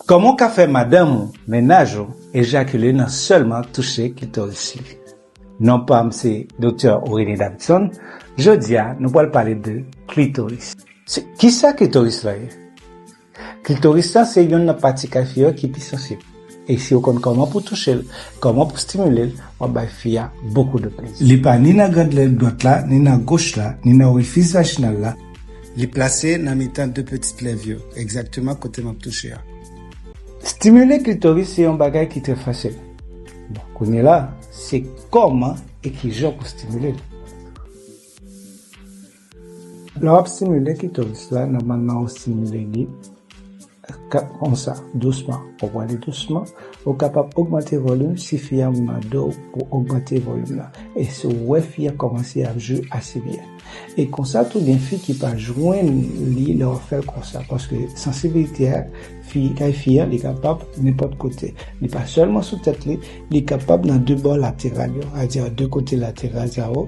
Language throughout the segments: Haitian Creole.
Kòman w ka fè madanm ou, mennaj ou, ejakile nan sèlman touche klitoris li? Non pa m se Doktè Aurélien Davidson, jodi a nou pral pale de klitoris. Kisa klitoris la ye? Klitoris la se yonn nan pati kay fi yo ki pi sansib e si w konn kòman pou touche l, kòman pou stimile l, w ap bay fi a bokou de plezi. Li pa ni nan grande lèn dwat la, ni nan goch la, ni nan orifice vaginal la, Li plase nan mitan 2 petit lèv yo, egzakteman kote map touche a. Stimile klitoris se yon bagay ki trè fasil. Bon, kounye la, se kòman e kijan pou stimile l. Lè wap stimile klitoris la, nòmalman ou stimile li. Kap konsa, dousman. Ou pwale dousman, ou kapab ogmante volim si fi an mande w pou ogmante volim nan e si w wè fi an kòmanse ap jwi ase byen. E konsa tou gen fi ki pa jwenn li lè wap fè l konsa paske sansibilite a fi kay fi an li kapab nenpòt kote. Li pa sèlman sou tèt li, li kapab nan 2 bò lateral yo, a di a 2 kote lateral sa yo.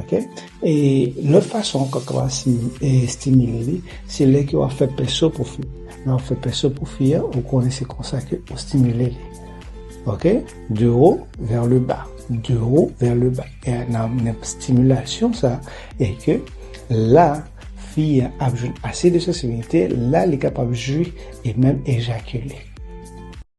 Ok e lòt fason kòk la estimile li se lè ke wap fè pèso pou fi lè wap fè pèso pou fi a ou konnen se konsa ke ou estimile li ok de wo vè le ba de wo vè le ba e nan estimulasyon sa e ke la fi a ap jwenn ase de sosibilite la li kapab jwi e menm ejakile.